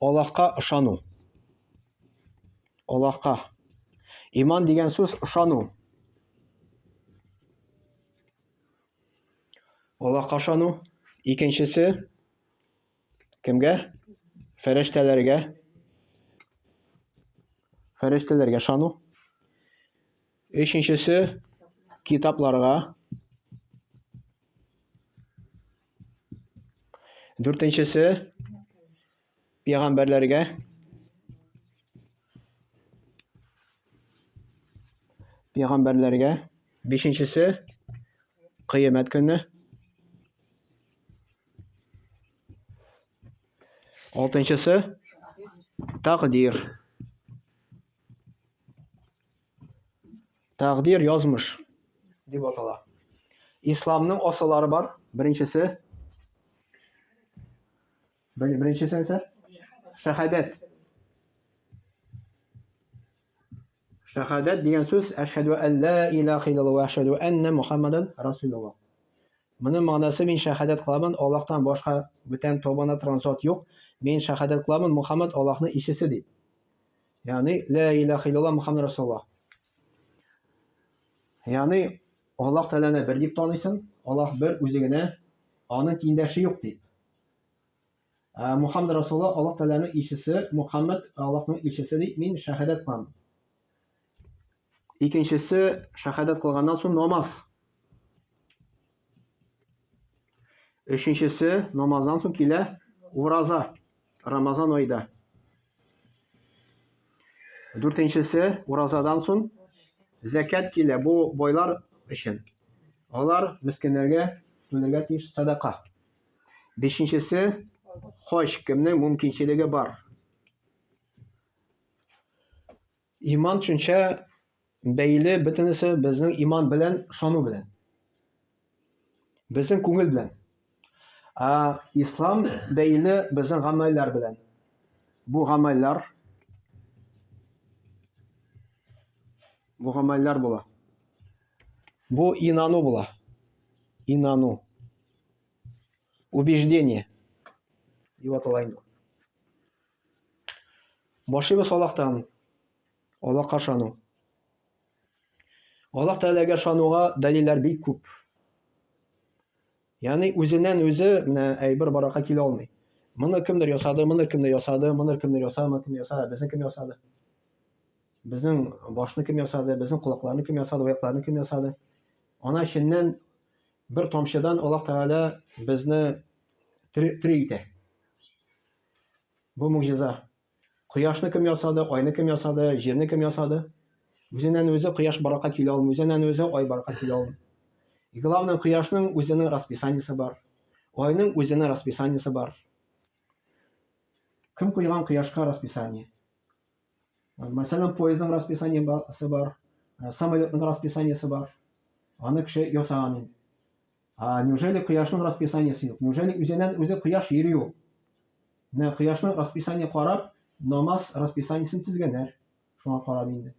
Аллаһка ышану. Аллаһка. Иман дигән сүз ышану. Аллаһка ышану. Икенчесе кемгә? Фәрештәләргә. Фәрештәләргә ышану. Өченчесе китапларга. Дүртенчесе пәйгамбәрләргә пәйгамбәрләргә бишенчесе кыямәт көне алтынчысы тәкъдир Тәкъдир язмыш дип атала. Исламның асыллары бар. Беренчесе Беренчесе нәрсә? Шәһадәт. Шәһадәт дигән сүз әшһәду әллә илаһ иллаллаһ ва әшһәду әннә Мухаммадан расулуллаһ. Моның мәгънәсе мин шәһадәт кыламын, Аллаһтан башка бүтән табана транзот юк. Мин шәһадәт кыламын, Мухаммад Аллаһның илчесе дип. Ягъни, лә илаһ иллаллаһ Мөхәммәд Расулуллаһ. Ягъни, Аллаһ Тәгаләне бер дип таныйсың, Аллаһ бер үзе генә, аның тиңдәше юк дип. Ә Мөхәммәд Расулуллаһ Аллаһ Тәгаләнең илчесе, Мөхәммәд Аллаһның илчесе дип мин шәһадәт кылам. Икенчесе шәһадәт кылганнан соң намаз. Өченчесе намаздан соң килә ураза. Рамазан айда. Дүртенчесе уразадан соң зәкят килә. Бу бойлар өчен. Алар мескеннәргә түләргә тиеш садака. Бишенчесе хоч кемнең мөмкинчелеге бар. Иман төшенчә бәйле бөтенесе безнең иман белән, ышану белән. Безнең күңел белән. Ә ислам бәйле безнең гамәлләр белән. Бу гамәлләр бу гамәлләр була. Бу инану була. Инану. Убеждение. Дип атала инде. Башыбыз Аллаһтан, Аллаһка ышану. Аллаһ Тәгаләгә ышануга дәлилләр бик күп. Ягъни үзеннән үзе менә әйбер баракка килә алмый. Моны кемдер ясады, моны кемдер ясады, моны кемдер ясады, моны кемдер ясады, безне кем ясады? Безнең башны кем ясады, безнең колакларны кем ясады, аякларны кем ясады? Ана эченнән бер тамчыдан Аллаһ Тәгалә безне тери итә. Бу могҗиза. Кояшны кем ясады, айны кем ясады, җирне кем ясады? Үзеннән үзе кояш баракка килә алмый, үзеннән үзе ай баракка килә алмый. И главное, кояшның үзенең расписаниесе бар. Айның үзенең расписаниесе бар. Кем куйган кояшка расписание? Мәсәлән, поездның расписаниесе бар, э, самолетның расписаниесе бар. Аны кеше ясаган инде. А неужели кояшның расписаниесе юк? Неужели үзеннән үзе кояш йөри ул? Менә кояшның расписание карап, намаз расписаниесен төзгәннәр. Шуңа карап инде.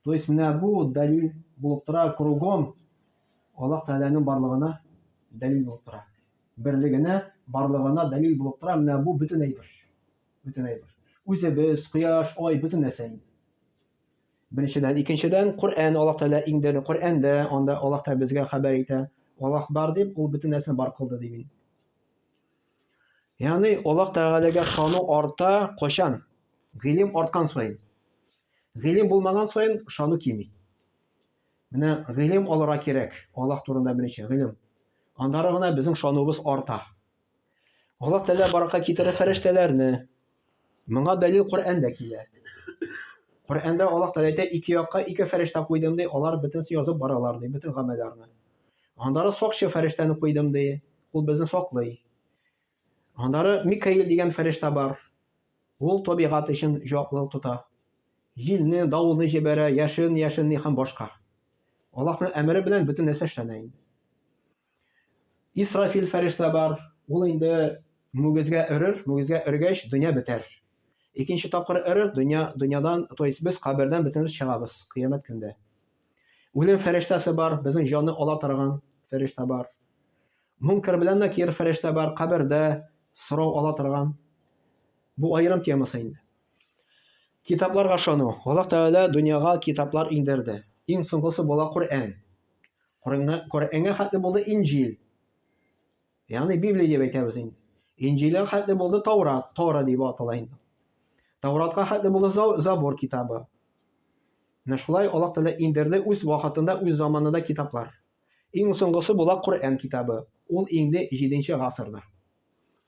То есть менә бу дәлил булып тора кругом Аллаһ Тәгаләнең барлыгына дәлил булып тора. Берлегенә, барлыгына дәлил булып тора менә бу бөтен әйбер. бөтен әйбер. Үзебез, кояш, ай, бөтен нәрсә инде. Беренчедән, икенчедән, Коръән Аллаһ Тәгалә иңдерде. Коръәндә анда Аллаһ Тәгалә безгә хәбәр итә. Аллаһ бар дип, ул бөтен нәрсәне бар кылды дип инде. Ягъни Аллаһ Тәгаләгә ышану арта качан? Гыйлем арткан саен. Гыйлем булмаган саен ышану кими. Менә гыйлем алырга кирәк. Аллаһ турында беренче гыйлем. Аннары гына безнең ышануыбыз арта. Аллаһ Тәгалә баракка китерә фәрештәләрне. Моңа дәлил Коръәндә килә. Коръәндә Аллаһ Тәгалә әйтә, ике якка ике фәрештә куйдым ди, алар бөтенесе язып баралар ди, бөтен гамәлләрне. Аннары сакчы фәрештәне куйдым ди, ул безне саклый. Аннары Микаил дигән фәрештә бар. Ул табигать өчен җаваплылык тота. Җилне, давылны җибәрә, яшен, яшенне һәм башка. Аллаһның әмере белән бөтен нәрсә эшләнә инде. Исрафил фәрештә бар, ул инде мүгезгә өрер, мүгезгә өргәч, дөнья бетәр. Икенче тапкыр өрер, дөнья, дөньядан, то есть без кабердән бөтенебез чыгабыз кыямәт көндә. Үлем фәрештәсе бар, безнең җанны ала торган фәрештә бар. Мункер белән Накир фәрештә бар, кабердә сорау ала торган. Бу аерым темасы инде. Китапларга ышану. Аллаһ Тәгалә дөньяга китаплар иңдерде. Иң соңгысы була Коръән. Коръәнгә хәтле булды Инҗил. Ягъни Библия дип әйтәбез инде. Инҗилгә хәтле булды Таурат, Тора дип атала инде. Тауратка хәтле булды Забур китабы. Менә шулай Аллаһ Тәгалә иңдерде үз вакытында, үз заманында китаплар. Иң соңгысы була Коръән китабы. Ул иңде 7 нче гасырда.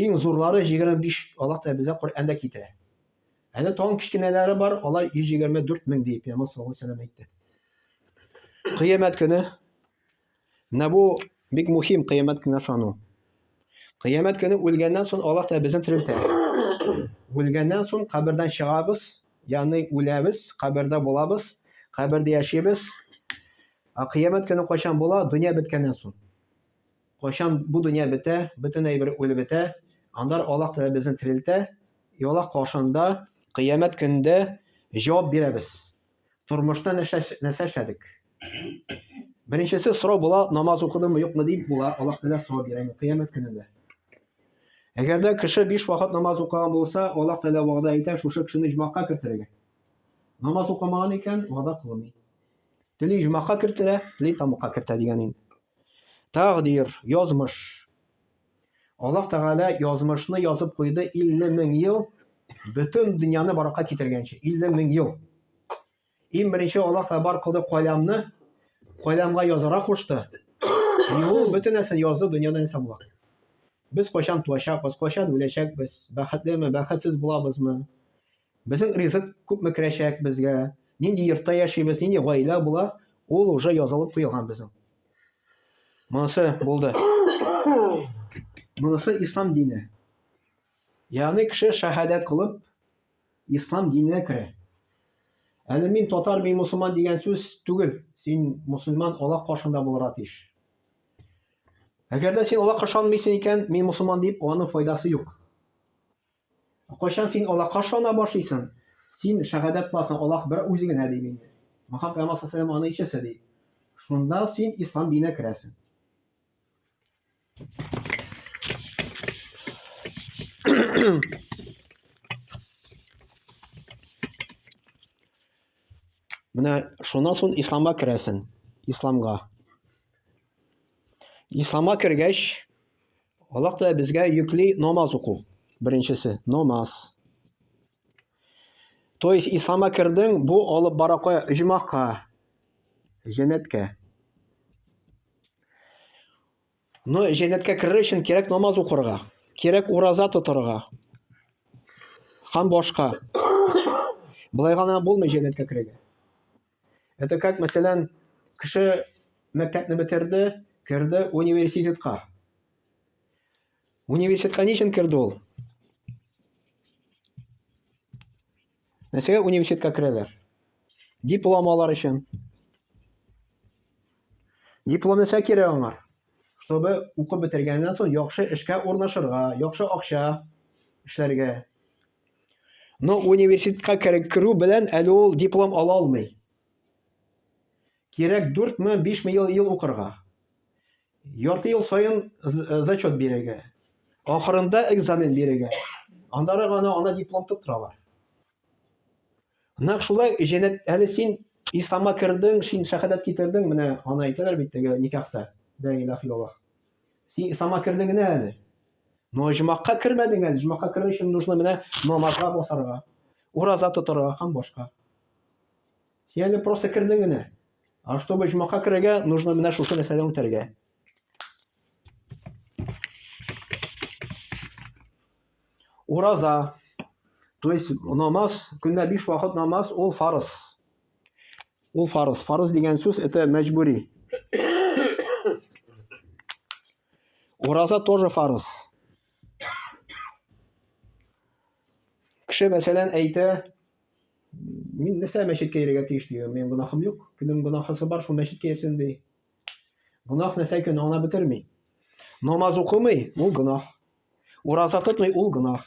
Иң зурлары 25, Аллаһ Тәгалә безгә Коръәндә китерә. Әле тагын кечкенәләре бар, алар 124 мең дип Пәйгамбәр саллаллаһу алейһи вәсәлләм әйтте. Кыямәт көне менә бу бик мөһим кыямәт көненә ышану. Кыямәт көне үлгәннән соң Аллаһ Тәгалә безне терелтә. Үлгәннән соң кабердән чыгабыз, ягъни үләбез, кабердә булабыз, кабердә яшибез. Ә кыямәт көне кайчан була? Дөнья беткәннән соң. Кайчан бу дөнья бетә, бөтен әйбер үлеп бетә, анда Аллаһ Тәгалә безне терелтә, и Аллаһ каршында кыямәт көндә җавап бирәбез. Тормышта нәрсә нәрсә эшләдек? Беренчесе сорау була, намаз укыдымы, юкмы дип була, Аллаһ Тәгалә сорау бирә кыямәт көнендә. Әгәр дә кеше биш вакыт намаз укыган булса, Аллаһ Тәгалә вәгъдә итә шушы кешене җмакка кертергә. Намаз укымаган икән, вәгъдә кылмый. Тели җмакка кертә, тели тамукка кертә дигән инде. Тәкъдир, язмыш. Аллаһ Тәгалә язмышны язып куйды 50 мең ел бөтен дөньяны баракка китергәнче. 50 мең ел. Иң беренче Аллаһ Тәгалә бар кылды каләмне, каләмгә язара кушты. И ул бөтен нәрсәне язды, дөньяда нәрсә була. Без кайчан туачакбыз, кайчан үләчәкбез, бәхетлеме, бәхетсез булабызмы? Безнең ризык күпме керәчәк безгә, нинди йортта яшибез, нинди гаилә була, ул уже язылып куелган безнең. Монысы булды. Монысы ислам дине. Ягъни кеше шәһадәт кылып ислам диненә керә. Әле мин татар, мин мусульман дигән сүз түгел. Син мусульман Аллаһ каршында булырга тиеш. Әгәр дә син Аллаһка ышанмыйсың икән, мин мусульман дип, аның файдасы юк. Кайчан син Аллаһка ышана башлыйсың? Син шәһадәт кыласың, Аллаһ бер үзе генә дип инде. Мөхәммәд пәйгамбәр саллаллаһу алейһи ва сәлләм аны ишәсе ди. Шунда син ислам диненә керәсең. Менә шуннан соң исламга керәсең. Исламга. Исламга кергәч, Аллаһ Тәгалә безгә йөкле намаз уку. Беренчесе, намаз. То есть ислама кердең, бу алып бара кая? Иҗмакка, җәннәткә. Но җәннәткә керер өчен кирәк намаз укырга, кирәк ураза тотарга. Һәм башка. Болай гына булмый җәннәткә керергә. Это как, мәсәлән, кеше мәктәпне бетерде, керде университетка. Университетка ничен керде ул? Нәрсәгә университетка керәләр? Диплом алар өчен. Диплом нәрсә кирәк аңа? Чтобы укып бетергәннән соң яхшы эшкә урнашырга, яхшы акча эшләргә. Но университетка керү белән әле ул диплом ала алмый. Кирәк 4 ме, 5 ме ел, ел укырга. Ярты ел саен э, зачет бирергә. Ахырында экзамен бирергә. Аннары гына ана диплом тоттыралар. Нәкъ шулай җәнәт әле син исламга кердең, син шәһадәт китердең, менә ана әйтәләр бит теге никахта. Дә илаһ илаллаһ. Син исламга кердең генә әле. Но оҗмакка кермәдең әле. Оҗмакка керү өчен нужно менә намазга басарга, ураза тотарга һәм башка. Син әле просто кердең генә. А чтобы оҗмакка керергә, нужно менә шушы нәрсәдән үтәргә. Ураза, то есть намаз, көнлә биш вакыт намаз, ул фарыз. Ул фарыз. Фарыз дигән сүз это мәҗбүри. Ураза тоже фарыз. Кеше мәсәлән әйтә, мин нәрсә мәчеткә йөрергә тиеш ди, минем гөнаһым юк. Кемнең гөнаһысы бар, шул мәчеткә йөрсен ди. Гөнаһ нәрсә икән, аңлап бетерми. Намаз укымый, ул гөнаһ. Ураза тотмый, ул гөнаһ.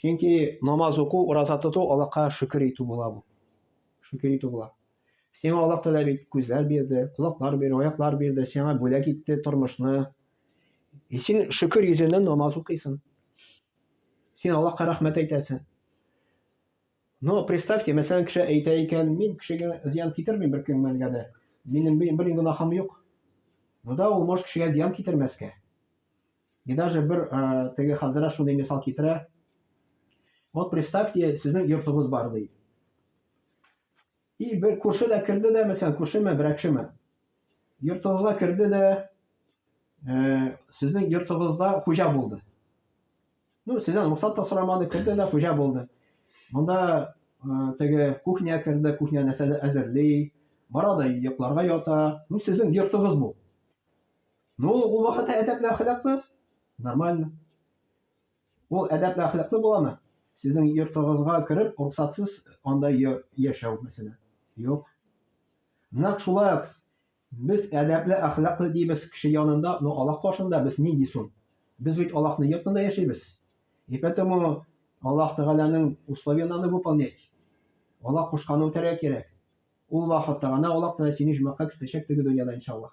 Чөнки намаз уку, ураза тоту Аллаһка шөкер итү була бу. Шөкер итү була. Сиңа Аллаһ Тәгалә бит күзләр бирде, колаклар бирде, аяклар бирде, сиңа бүләк итте тормышны. И э, син шөкер йөзеннән намаз укыйсың. Син Аллаһка рәхмәт әйтәсең. Но представьте, мәсәлән, кеше әйтә икән, мин кешегә зыян китермим бер кемгә дә. Минем бер генә гынахым юк. Монда ул может кешегә зыян китермәскә. И даже бер э, теге хәзрә шундый мисал китерә. Вот представьте, сезнең йортыгыз бар ди. И бер күрше дә керде дә, мәсәлән, күршеме, берәкшеме. Йортыгызга керде дә, э, сезнең йортыгызда хуҗа булды. Ну, сездән рөхсәт та сорамады, керде дә хуҗа булды. Монда э, теге кухня керде, кухня нәрсәдә әзерли, барады йокларга ята. Ну, сезнең йортыгыз бу. Ну, ул вакытта әдәпле әхлаклы, нормально. Ул әдәпле әхлаклы буламы? Сезнең йортыгызга кереп, рөхсатсыз анда яшәү мәсәлән. Юк. Нәкъ шулай ук без әдәпле әхлаклы дибез кеше янында, но Аллаһ каршында без нинди соң? Без бит Аллаһның йортында яшибез. И поэтому Аллаһ Тәгаләнең условия надо выполнять. Аллаһ кушканын үтәргә кирәк. Ул вакытта гына Аллаһ Тәгалә сине җумакка кертәчәк теге дөньяда иншаллаһ.